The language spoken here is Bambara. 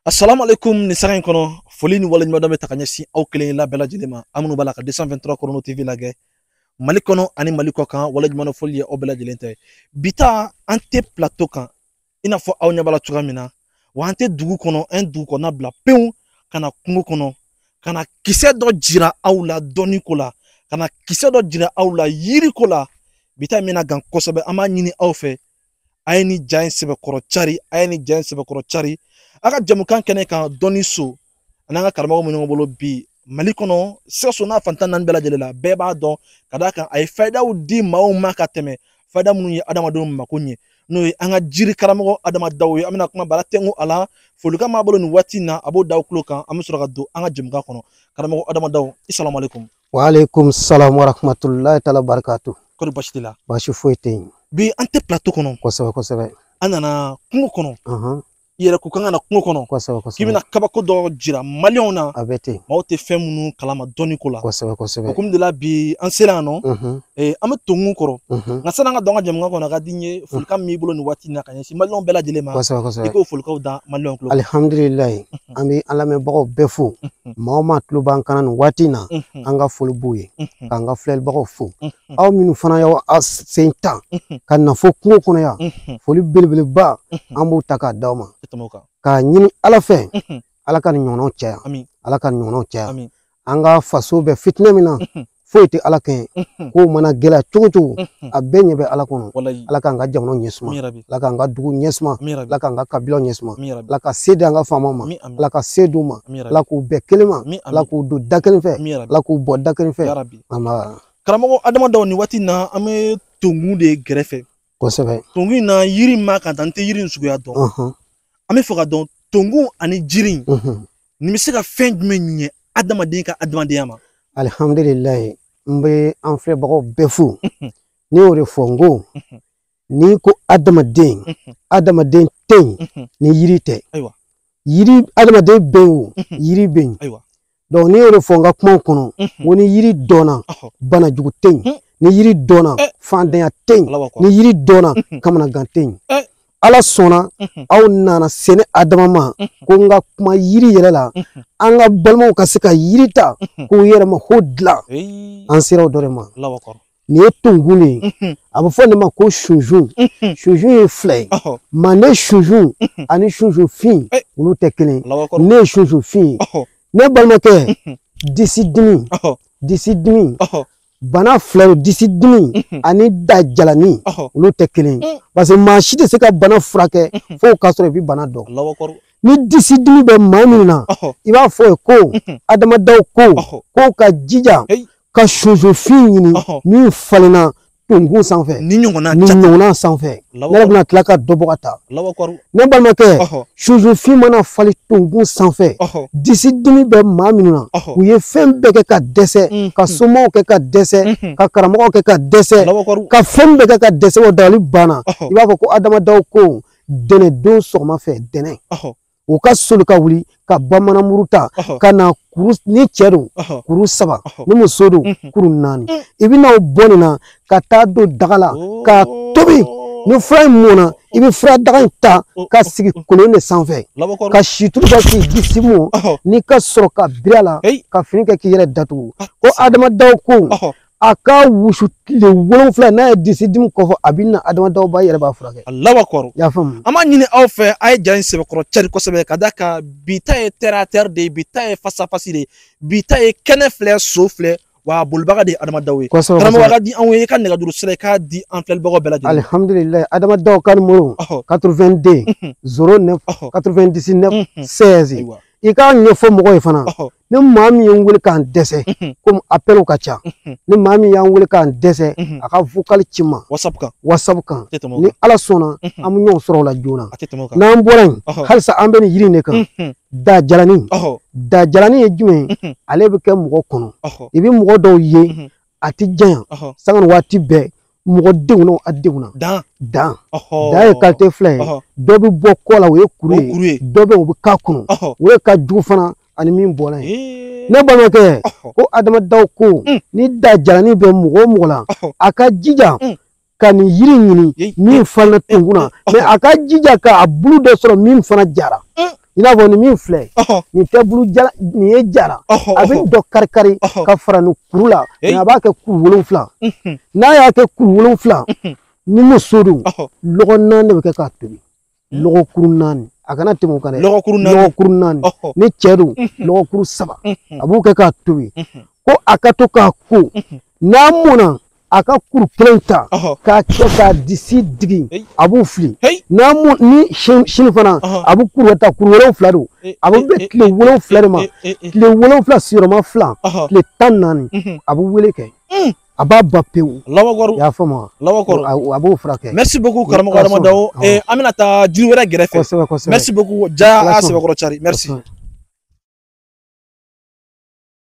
assalamu alaikum nin sanga in kɔnɔ foli ni waleɲumandɔn bɛ ta ka ɲɛsin aw kelen la bɛɛ lajɛlen ma aw minnu b'a la ka 223 chrono tv lagɛ mali kɔnɔ ani mali kɔ kan waleɲumandɔn foli ye aw bɛɛ lajɛlen ta ye bi ta an tɛ plateau kan i n'a fɔ aw ɲɛ b'a la cogoya min na wa an tɛ dugu kɔnɔ an ye dugu kɔnɔna bila pewu ka na kungo kɔnɔ ka na kisɛ dɔ jira aw la dɔnni ko la ka na kisɛ dɔ jira aw la yiri ko la bi ta in bɛna gan kosɛbɛ an b'a ɲini aw fɛ a ye nin ja in sɛbɛkɔrɔ cari a ye nin ja in sɛbɛkɔrɔ cari an ka jɛmukan kɛnɛ kan dɔnni so an'an ka karamɔgɔ min ɲɔgɔn bolo bi mali kɔnɔ sikaso n'a fan tan naani bɛɛ lajɛlen la bɛɛ b'a dɔn ka d'a kan a ye fayidaw di maaw ma ka tɛmɛ fayida minnu ye adamadenw mako ɲɛ n'o ye an ka jiri karamɔgɔ adama daw ye an bɛna kuma bara tɛnko a la folikan b'a bolo nin waati in na a b'o da aw tulo kan an bɛ sɔrɔ ka don an ka jɛmukan kɔnɔ karamɔgɔ adama daw i salamalekum wa aleykum salam wa rahmatulahi taala barakatu kɔri basi t'i la basi foyi tɛ yen bi an tɛ plateau kɔnɔ kosɛbɛ kosɛbɛ an nana kungo kɔnɔ i yɛrɛ ko k'an ka na kungo kɔnɔ kosɛbɛ kosɛbɛ k'i bɛna kabako dɔ jira maliyɛnw na a bɛ ten maaw tɛ fɛn minnu kalama dɔnni ko la kosɛbɛ kosɛbɛ o kama de la bi an sera yan nɔ an bɛ tonkun kɔrɔ nka sani an ka don an ka jɛmukan kɔnɔ a ka di n ye folikan min b'i bolo nin waati in na ka ɲɛsin maliyɛnw bɛɛ lajɛlen ma kosɛbɛ kosɛbɛ i k'o folikaw da maliyɛnw tulo alihamdulilayi an bɛ an lamɛnbagaw bɛɛ fo maa o maa tulo b'an kan na nin waati in na an ka foli b'u ye k'an ka filɛlibagaw fo aw minnu fana y'aw sen ta ka na fo kungo kɔnɔ yan foli belebeleba an b'u ta k'a d'aw ma k'a ɲini ala fɛ ala ka nin ɲɔgɔnnaw caya ala ka nin ɲɔgɔnnaw caya an ka faso bɛ fitinɛ min na foyi tɛ ala kɛ ko mana gɛlɛya cogo cogo a bɛɛ ɲɛ bɛ ala kɔnɔ ala k'an ka jamana ɲɛ suma ala k'an ka dugu ɲɛ suma ala k'an ka kabila ɲɛ suma ala ka se di an ka faamaw ma ala ka se d'u ma ala k'u bɛn kelen ma ala k'u don da kelen fɛ ala k'u bɔ da kelen fɛ karamɔgɔ adama daw nin waati in na an bɛ tonkun de gɛrɛfɛ kosɛbɛ tonkun in na yiri b'a kan n tɛ yiri in suguya dɔn an b'a fɛ k'a dɔn tonkun ani jiri nin bɛ se ka fɛn jumɛn ɲɛ adamaden ka adamadenya ma alihamdulilayi n bɛ an filɛbagaw bɛɛ fo ne y'o de fɔ n ko n'i ko adamaden adamaden tɛ yen ni yiri tɛ yen adamaden bɛ yen o yiri bɛ yen donc ne y'o de fɔ n ka kumaw kɔnɔ n ko ni yiri dɔnna banajugu tɛ yen ni yiri dɔnna eh. faantanya tɛ yen ni yiri dɔnna kamanagan tɛ yen eh. ala sɔnna aw nana se ne adama ma ko n ka kuma yiri yɛrɛ la an ka balimaw ka se ka yiri ta k'u yɛrɛ mako dilan an sera o dɔ de ma nin ye tonkun de ye a bɛ fɔ nin ma ko sunsun sunsun ye fila ye manden sunsun ani sunsun fin eh. olu tɛ kelen ye nin ye sunsun fin ye ne balimakɛ disi dimi disi dimi bana fila ye disi dimi mhm. ani da jalani olu tɛ kelen ye mm. parce que maa si tɛ se ka bana furakɛ mhm. fo k'a sɔrɔ i bɛ bana dɔn ni disi dimi bɛ maa min na i b'a fɔ ye ko mhm. adama dawo ko k'o ka jija ka sunsunfin ɲini min falenna tonkun sanfɛ nin ɲɔgɔnna sanfɛ ne yɛrɛ bɛna tila ka dɔ bɔ ka taa ne balimakɛ sunsunfin mana falen tonkun sanfɛ disi dimi bɛ maa minnu na u ye fɛn bɛɛ kɛ ka dɛsɛ mm-hmm. ka somaw kɛ ka dɛsɛ mm-hmm. ka karamɔgɔw kɛ ka dɛsɛ ka fɛn bɛɛ kɛ ka dɛsɛ o dabali banna i b'a fɔ ko adama dawo ko ntɛnɛndon sɔgɔma fɛ ntɛnɛn u ka soli ka wuli ka bamanan muru ta ka na kuru ni cɛ don kuru saba ni muso don kuru naani mm. i bɛna o bɔ nin na ka taa don daga la oh. ka tobi ni fura in mɔna i bɛ fura daga in ta oh, oh, ka sigi kolon de sanfɛ ka situlu kɛ k'i disi mɔ ni ka sɔrɔ ka biri a la ka fini kɛ k'i yɛrɛ datugu ah. ko adama dawo ko a ka wusu tile wolonwula n'a ye disi dimi kofɔ a bɛ na adama dawo ba yɛrɛ b'a furakɛ alahu akibaru y'a faamu an b'a ɲini aw fɛ a ye ja in sɛbɛkɔrɔ cari kosɛbɛ ka d'a kan bi ta ye terre à terre de ye bi ta ye face à face de ye bi ta ye kɛnɛ filɛ so filɛ wa bolibaga de ye adama dawo ye kosɛbɛ karamɔgɔ ka di anw ye i ka nɛgɛjuru sira i k'a di an filɛlibagaw bɛɛ lajɛlen alihamdulilayi adama dawo ka nimoro 82 09 99 16 i k'a ɲɛfɔ mɔgɔ ye fana ni maa min ye n wele k'an dɛsɛ komi apɛlw ka ca ni maa min y'an wele k'an dɛsɛ a ka vokali ci n ma wasapu kan wasapu kan ni ala sɔnna an bɛ ɲɔgɔn sɔrɔ o la joona n'an bɔra yen halisa an bɛ nin yiri in de kan dajalani dajalani ye jumɛn ye ale bɛ kɛ mɔgɔ kɔnɔ i bɛ mɔgɔ dɔw ye a tɛ janya sanga ni waati bɛɛ mɔgɔ denw na a denw na dan dan dan ye kalite fila ye dɔ bɛ bɔ kɔ la o ye kuru ye dɔ bɛ o bɛ k'a kɔnɔ o de ka jugu fana ani min bɔra ye ne balimakɛ ko adama dawo ko ni dajalani bɛ mɔgɔ o mɔgɔ la a ka jija ka nin yiri ɲini min falenna tonkun na mɛ a ka jija k'a bulu dɔ sɔrɔ min fana jara i n'a fɔ nin min filɛ nin tɛ bulu jalanin ye jara a bɛ dɔ kari kari ka fara nin kuru la mɛ a b'a kɛ kuru wolonfila n'a y'a kɛ kuru wolonfila ni muso don lɔgɔ naani de bɛ kɛ k'a tobi hmm. lɔgɔkuru naani a kana tɛmɛ o kan dɛ lɔgɔkuru naani lɔgɔkuru naani ni cɛ don hmm. lɔgɔkuru saba a b'o kɛ k'a tobi ko a ka to k'a ko n'a mɔna a ka kuru kelen ta k'a kɛ k'a disi digi a b'o fili n'a mɔ ni sini fana a bɛ kuru ta kuru wolonwula don a bɛ bɛn tile wolonwula de ma tile wolonwula sigiyɔrɔma fila tile tan naani a b'o wale kɛ a b'a ban pewu alahu akibaru y'a faamu alahu akibaru a b'o furakɛ merci beaucoup karamɔgɔ adama dawo eh, an bɛna taa jiri wɛrɛ gɛrɛfɛ kosɛbɛ kosɛbɛ merci beaucoup ja a sɛbɛkɔrɔ cari merci